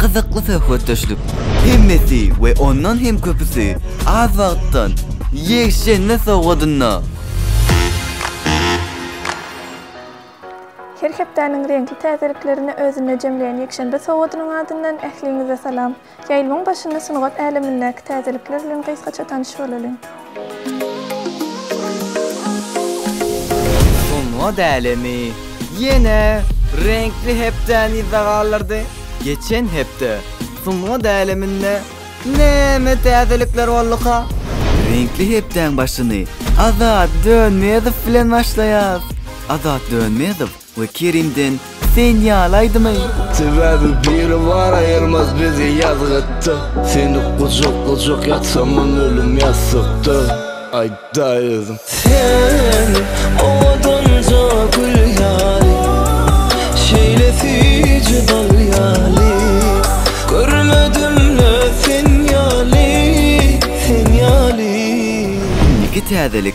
gyzykly söhbetdeşlik, hemmesi we ondan hem köpüsi az wagtdan ýekşenbe sowgadynda! Her hepdäniň reňkli täzeliklerini özünde jemleýän ýekşenbe sowgadynyň adyndan ähliňize salam! Ýaýlymyň başynda sungat älemindäki täzelikler bilen gysgaça tanyş bolalyň! Soňra dälemi? Ýene reňkli hepdäni yzda galdyrdy. Geçen hepde Soňra däleminde näme täzelikler bolduka? Reňkli hepdäň başyny Azat Dönmezow bilen başlaýas. Azat Dönmezow We Kerimden sen ýaly aýdym-aý. Sebäbi Biribar aýyrmaz bizi ýazgytda Seni gujaklajak ýatsaman ölüm ýassykda Aýdaý özüň. Sen owadanja gül ýaly Şeýle süýji bal ýaly Görmedim-le sen ýaly, sen ýaly. Indiki täzelik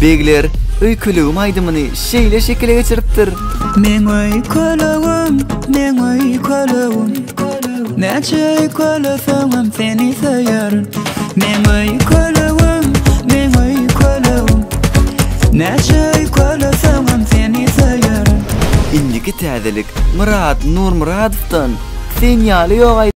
Begler öý kölegim aýdymyny şeýle şekile geçiripdir. Meň öý kölegim, meň öý kölegim, Näçe öý köleseňem seni söýerin. Meň öý kölegim, meň öý kölegim, Näçe öý köleseňem seni söýerin. Indiki täzelik Myrat Nurmyradowdan Sen ýaly ýok aýdym.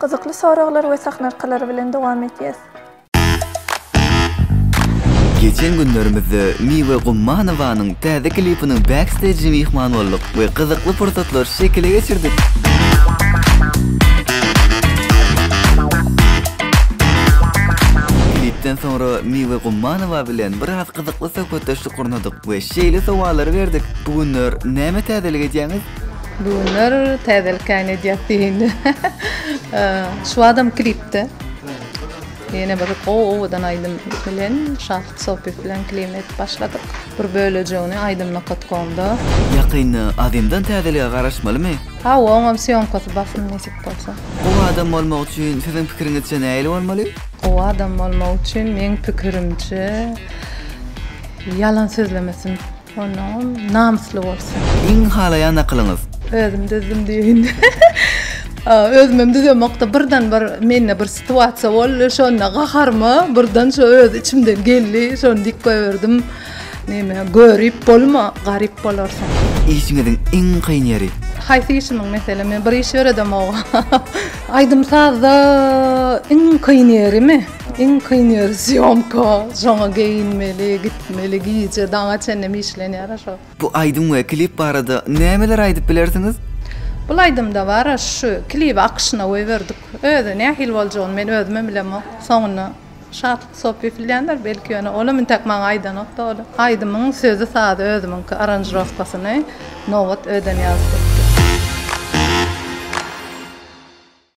Gyzykly soraglar we sahnarkalary bilen dowam etýäs. Geçen günlerimizde Miwe Gummanowanyň täze klipiniň backstage'ine myhman bolduk we gyzykly pursatlary şekile geçirdik. Klipden soňra Miwe Gummanowa bilen biraz gyzykly söhbetdeşlik gurnadyk we şeýle sowallary berdik, Bu günler näme täzelik edýäňiz? Düwünler täzelik käýin edýär diýindi. Şu adam klipde. Ýene bir o owadan aýdym bilen Şahyt Sopyp bilen klip edip başladyk. Bir bölejegini aýdym nokatkomda. Ýakynda Azimdan täzelige garaşmalymy? Hawa, oňam sýomkasy basym nesip bolsa. Gowy adam bolmak üçin siziň pikiriňizçe nähili bolmaly? Gowy adam bolmak üçin meň pikirimçe ýalan sözlemesin. Onam namysly bolsun. Iň halaýan nakylyňyz. Özüm düzdüm diýeýin. Özümem düzemokda birden bir mende bir situasiýa boldy. Şonda gaharyma birden şo öz içimden geldi. Şony diýip goýberdim. Näme görip bolma, garyp bolarsyň. Işiňiziň iň kyn ýeri. Haýsy işimiň meselem men bir iş ýöredemok. Aýdym sazda iň kyn ýerimi? Iň kyn ýeri sýomka, şoňa geýinmeli, gitmeli, gije daňa çenlem işlenýär-ä şo. Bu aýdym we klip barada nämeler aýdyp bilersiňiz? Bul aýdymda bar-a şu, klibi akyşyna goýberdik. Özi nähili boljagyny men özümem bilemok. Soňunda Şatlyk Sopy filýändir, belki ýöne olam intäk maňa aýdanok-da ol. Aýdymyň sözi-sazy özümiňki, aranžirowkasyny Nobat Ödenýazow etdi.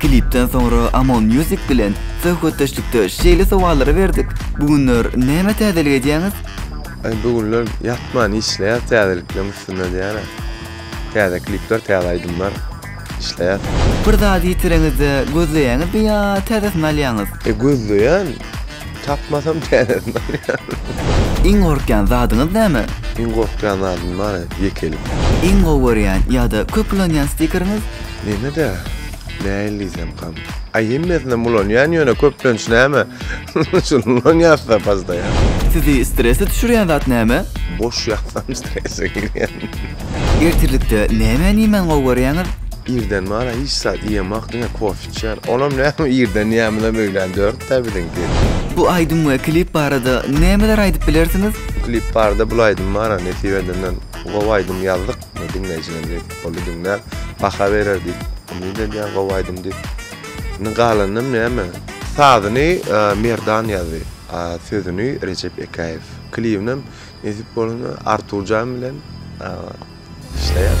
Klipden soňra Amon Music bilen söhbetdeşlikde şeýle sowallary berdik, Bu günler näme täzelik edýäňiz? Aý bu günler ýatman işleýäs täzelikleriň üstünde diýýän. Täze klipler, täze aýdymlar işleýäs. Bir zady ýitireňizde gözleýäňizmi ýa täzesini alýaňyz? E gözleýän, Tapmasam täzesini alýaryn. Iň gorkýan zadyňyz näme? Iň gorkýan zadym bary, ýekelik. Iň gowy görýän ýa-da köp ulanýan stikeriňiz? Mende-de näil diýsemkam. Aý hemmesinem ulanýan ýöne köplenç näme şuny ulanýasda pastaýan. Sizi stresli düşürýän zat näme? Boş ýatsam strese girýän. Ertirlikde nämäni iýmäni gowy görýäňiz? Irden bary hiç zat iýemok diňe kofe. Şer, onam näme irden ýamyna möýlän dört tä biziň diýip. Bu aýdym we klip barada nämeler aýdyp bilersiňiz? Bu klip barada bul aýdym bara nesip edenden gowy aýdym ýazdyk we diňleýjiler diýip boldy diňläp baha berer diýip umyt edýän gowy aýdym diýip. Indi galanynam näme? Sazyny Merdan ýazdy, a sözüni Rejep Ekäýew. Klibinem nesip bolanda Arturjan bilen işleýäs.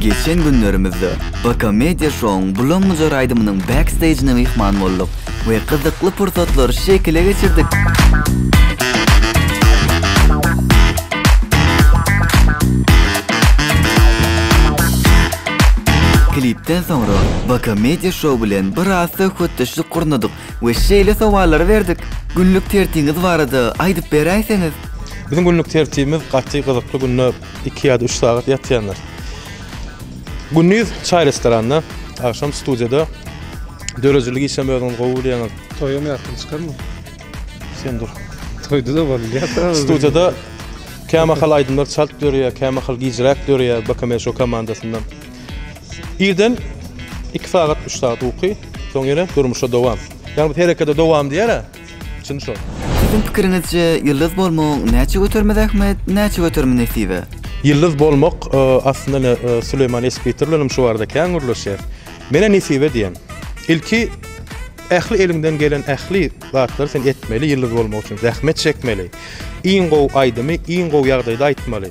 Geçen günlerimizde BK Media Show-yň Bulam-bujar aýdymynyň backstejine myhman bolduk we gyzykly pursatlary şekile geçirdik. Klipden soňra BK Media Show bilen biraz söhbetdeşlik gurnadyk we şeýle sowallary berdik. Günlük tertiňiz barada aýdyp beräýseňiz? Biziň günlük tertibimiz gaty gyzykly günde iki ýa-da üç sagat ýatýandyr. Gündiz çaý restoranda, agşam studiýada. Döredijilik işem özüňiz gowy bilýäňiz. Toýam ýatdan çykarmy? Sen dur. Toýda-da bol ýa-da. Studiýada kämahal aýdymlar çalt dörýär, kämahal gijräk dörýär BKMŞO komandasyndan. Irden iki sagat, üç sagat uky, soň ýene durmuşa dowam. Ýagny biz herekede dowam diýer-ä, çyn şol. Siziň pikiriňizçe ýyldyz bolmagyň näçe göterimi zähmet, näçe göterimi nesibe? Ýyldyz bolmak, aslynda ine Süleýman Esbiter bilen hem şu barada kän gürleşýäs. Men-ä nesibe diýen. Ilki ähli eliňden gelen ähli zatlary sen etmeli ýyldyz bolmak üçin, zähmet çekmeli. Iň gowy aýdymy iň gowy ýagdaýda aýtmaly.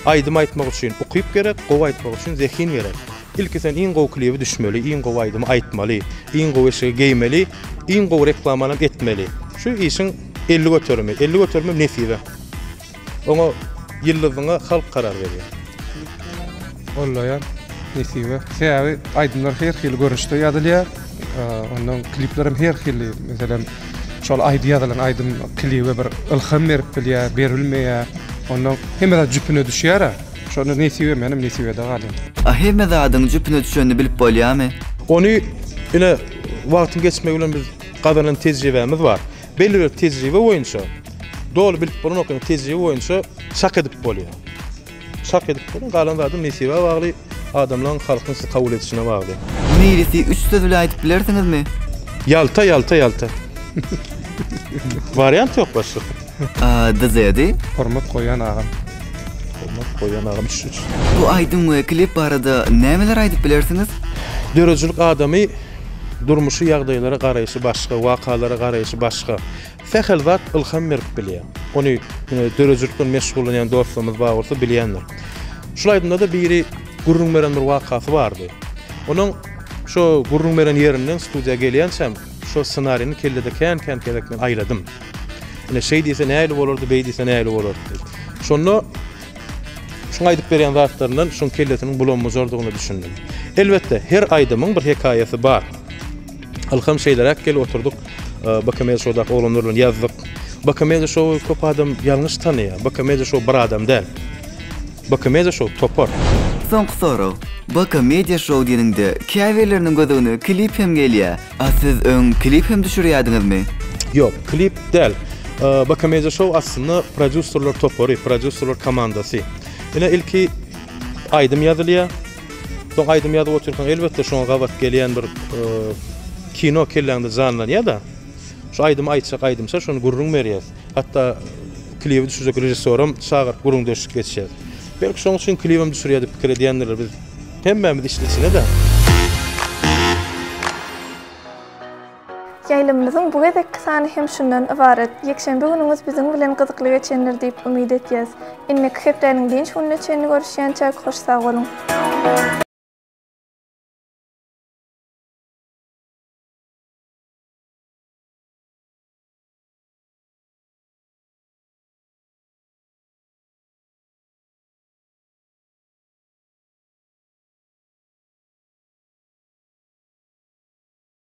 Aýdym aýtmak üçin ukyp gerek, gowy aýtmak üçin zehin gerek. Ilki sen iň gowy klibi düşmeli, iň gowy aýdymy aýtmaly, iň gowy eşigi geýmeli, iň gowy reklamanam etmeli. Şu işiň elli göterimi, elli göterimem nesibe. Oňa ýyldyzyňa halk karar berýär. Gollaýan nesibe. Sebäbi aýdymlar her hili görnüşde ýazylýar. Ondan kliplerem her hili. Meselem. Şol aýdy ýazylan aýdym klibe bir ylham berip bilýär, berilmeýär. Onda hemme zat jüpüne düşýär-ä. Şonda nesibe menem nesibede galýan. A hemme zadyň jüpüne düşenini bilip bolýamy? Ony ine wagtyň geçmegi bilen biz gazanan tejribämiz bar. Belli bir tejribe boýunça, doly bilip bolanok ýöne tejribe boýunça çak edip bolýar. Çak edip durun galan zady nesibä bagly adamlaň halkyň sizi kabul edişine bagly. Niresi üç söz bilen aýdyp bilersiňizmi? Ýalta ýalta ýalta. Wariant ýok başlyk. Dizedi. Hormat goýan agam. Hormat goýan agam üç üç. Bu aýdym we klip barada nämeler aýdyp bilersiňiz? Döredijilik adamy durmuşy ýagdaýlara garaýşy başga, wakalara garaýşy başga. Sähel zat ylham berip bilýär. Ony ine döredijilik bilen meşgullanýan dostlarymyz bar bolsa bilýändir. Şul aýdymda-da biri gürrüň beren bir wakasy bardy. Onuň şo gürrüň beren ýerinden studiýa gelýänçäm şo ssenarini kellede kän-kän gezek men aýladym. Ine şeý diýse nähili bolardy, beý diýse nähili bolardy diýip. Şonda şuň aýdyp berýän zatlaryndan şuň kellesiniň bulam-bujardygyna düşündim. Elbetde, her aýdymyň bir hekaýasy bar. Ylham şeýleräk gelip oturdyk. Bakamedia şowdaky oglanlar bilen ýazdyk. Bakamedia şowy köp adam ýalňyş tanaýar. Bakamedia şow bir adam däl. Bakamedia şow topar. Soňky sorag. Bakamedia şow diýeniňde käbirleriniň gözügne klip hem gelýär. A siz öň klip hem düşürýärdiňizmi? Ýok, klip däl. Bakamedia şow aslynda prodýuserler topary, prodýuserler komandasy. Ine ilki aýdym ýazylýar. Soň aýdym ýazyp otyrkaň elbetde şoňa gabat gelýän bir kino kelläňde janlanýar-da. Şu aýdymy aýtjak aýdymça şony gürrüň berýäs. Hatda klibi düşürjek režissýoram çagyryp gürrüňdeşlik geçýäs. Belki şoň üçin klibem düşürýär diýip pikir edýändirler. Biz hemmämiz içli-içine-de. Ýaýlymymyzyň bu gezekki sany hem şundan ybarat. Ýekşenbe günüňiz biziň bilen gyzykly geçendir diýip umyt etýäs. Indiki hepdäniň dynç gününe çenli görüşýänçäk hoş sag boluň.